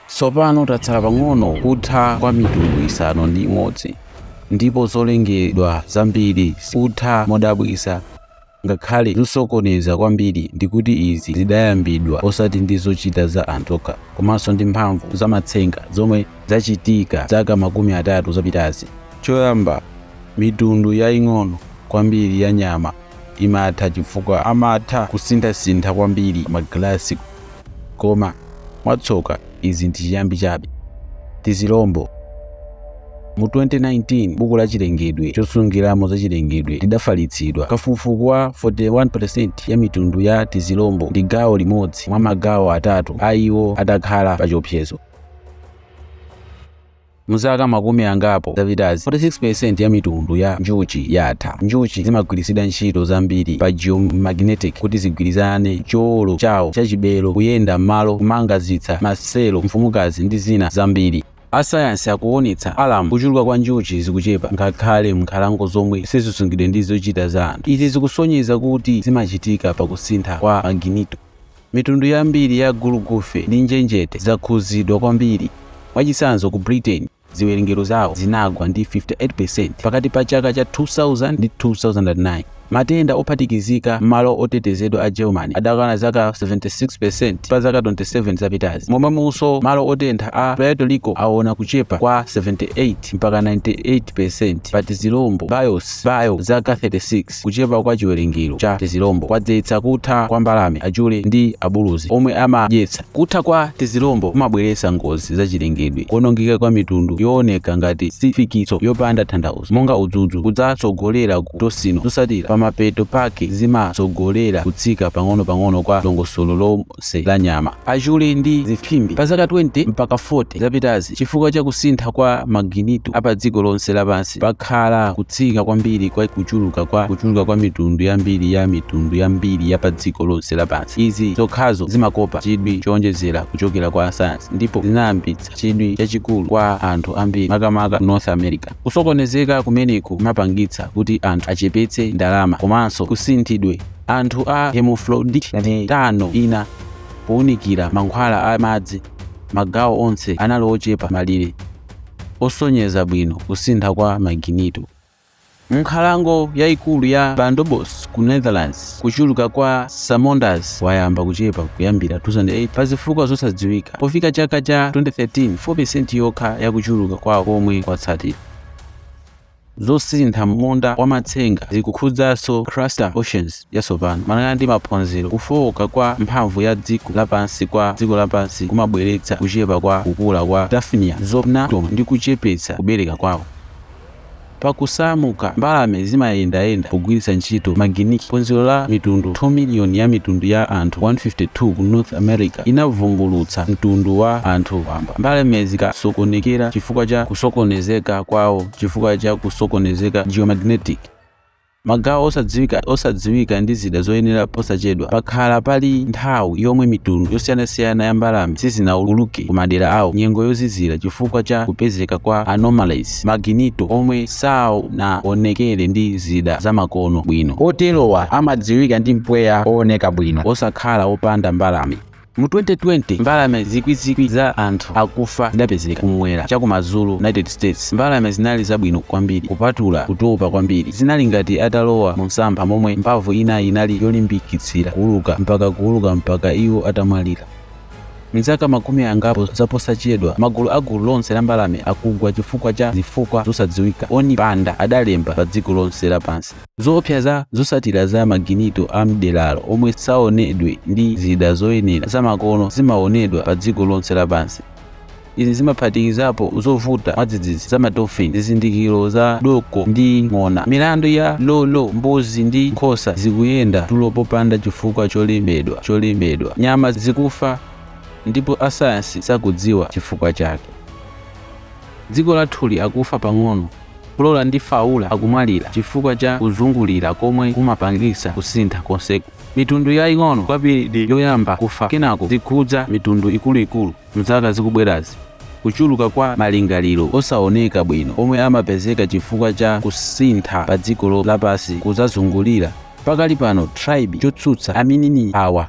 Tsopano tatsala pang'ono kutha kwa mitundu isanu ndi imodzi, ndipo zolengedwa zambiri zikutha modabwitsa, ngakhale zosokoneza kwambiri, ndikuti izi zidayambidwa osati ndi zochita za anthu okha, komanso ndi mphamvu za matsenga zomwe zachitika zaka makumi atatu zapitazi. Choyamba, mitundu yaing'ono kwambiri ya nyama. imatha chifukwa amatha kusinthasintha kwambiri magalasi. Koma mwatsoka, izi ndi chiyambi chabe. Tizilombo. Mu 2019 buku la chilengedwe chosungiramo za chilengedwe lidafalitsidwa. Kafukufuku wa 41% ya mitundu ya tizilombo ndi gawo limodzi mwa magawo atatu a iwo adakhala pachiopsezo. M'zaka makumi angapo zapitazi, 46% ya mitundu ya njuchi yatha. Njuchi zimagwiritsidwa ntchito zambiri pa geomagnetic kuti zigwirizane cholowa chawo chachibelo, kuyenda m'malo, kumanga zisa, maselo, mfumukazi, ndi zina zambiri. Asayansi akuwonetsa alamu kuchuluka kwa njuchi zikuchepa ngakhale m'nkhalango zomwe sizisungidwe ndi zochita za anthu. Izi zikusonyeza kuti zimachitika pa kusintha kwa maginito. Mitundu yambiri ya gulugufe ndi njenjete zakhudzidwa kwambiri. Mwachitsanzo, ku Britain ziwerengero zawo zinagwa ndi 58 peresenti pakati pa chaka cha 2000 ndi 2009. Matenda ophatikizika m'malo otetezedwa a Germany adakwana zaka 76 peresenti pa zaka 27 zapitazi, momwemonso malo otentha a Puerto Rico awona kuchepa kwa 78 mpaka 98 peresenti pa tizilombo, bios, bio, zaka 36. Kuchepa kwa chiwerengero cha tizilombo kwadzetsa kutha kwa mbalame, achule, ndi abuluzi omwe amadyetsa. Kutha kwa tizilombo kumabweretsa ngozi zachilengedwe, kuwonongeka kwa mitundu yooneka ngati sifikitso yopanda tanthauzo, monga udzudzu, kudzatsogolera ku tosino zotsatira, pamapeto pake zimatsogolera kutsika pang'onopang'ono kwa dongosolo lo. lonse la nyama, achule ndi zimphimbi. Pa zaka 20 mpaka 40 zapitazi, chifukwa cha kusintha kwa maginito a padziko lonse lapansi, pakhala kutsika kwambiri kwa kuchuluka kwa kuchuluka kwa mitundu yambiri ya mitundu yambiri ya padziko lonse lapansi. Izi zokhazo zimakopa chidwi chowonjezera kuchokera kwa asayansi ndipo zinayambitsa chidwi chachikulu kwa anthu ambiri, makamaka North America. Kusokonezeka kumeneku kumapangitsa kuti anthu achepetse ndalama komanso kusinthidwe. Anthu a hermaphrodite tano ina pounikira mankhwala a madzi magawo onse anali ochepa malire osonyeza bwino kusintha kwa maginito. M'nkhalango yaikulu ya Bunderbos ku Netherlands, kuchuluka kwa salamanders wayamba kuchepa kuyambira 2008 pazifukwa zosadziwika. Pofika chaka cha 2013, 4% yokha ya kuchuluka kwawo komwe kwatsatira. Zosintha m'munda wa matsenga zikukhudzanso crustaceans yatsopano. Malingana ndi maphunziro, kufooka kwa mphamvu ya dziko lapansi kwa dziko lapansi kumabweretsa kuchepa kwa kukula kwa Daphnia zobnatum ndi kuchepetsa kubereka kwawo. Pa kusamuka, mbalame zimayendayenda pogwiritsa ntchito maginito. Phunziro la mitundu 2 miliyoni ya mitundu ya anthu 152 ku North America inavumbulutsa mtundu wa anthu wamba. Mbalame zikasokonekera chifukwa cha kusokonezeka kwawo chifukwa cha kusokonezeka geomagnetic magawo osadziwika ndi zida zoyenera posachedwa pakhala pali nthawi yomwe mitundu yosiyanasiyana ya mbalame sizinauluke ku madera awo nyengo yozizira chifukwa cha kupezeka kwa anomalies maginito omwe saonekera ndi zida zamakono bwino oterowa amadziwika ndi mpweya owoneka bwino osakhala opanda mbalame Mu 2020, mbalame zikwizikwi za anthu akufa zidapezeka kum'mwera chakumadzulo United States. Mbalame zinali zabwino kwambiri kupatula kutopa kwambiri. Zinali ngati atalowa mumsampha momwe mphamvu inayi inali yolimbikitsira kuuluka mpaka kuuluka mpaka iwo atamwalira. M'zaka makumi angapo zaposachedwa, magulu a gulu lonse la mbalame akugwa chifukwa cha zifukwa zosadziwika, Oni Banda adalemba padziko lonse lapansi. Zoopsa za zotsatira za maginito a m'deralo omwe saonedwe ndi zida zoyenera zamakono zimaonedwa padziko lonse lapansi. Izi zimaphatikizapo zovuta mwadzidzidzi za madofini, zizindikiro za doko ndi ng'ona, milandu ya Lo Lo, mbuzi ndi nkhosa zikuyenda tulo popanda chifukwa cholembedwa cholembedwa, nyama zikufa ndipo asayansi sakudziwa chifukwa chake. Dziko lathuli akufa pang'ono, Flora ndi fauna akumwalira chifukwa cha kuzungulira komwe kumapangitsa kusintha konseku. Mitundu yaing'ono kwambiri ndi yoyamba kufa kenako zikhudza mitundu ikuluikulu m'zaka zikubwerazi. Kuchuluka kwa malingaliro osaoneka bwino omwe amapezeka chifukwa cha kusintha padziko lapansi kudzazungulira pakali pano tilibe chotsutsa aminini awa.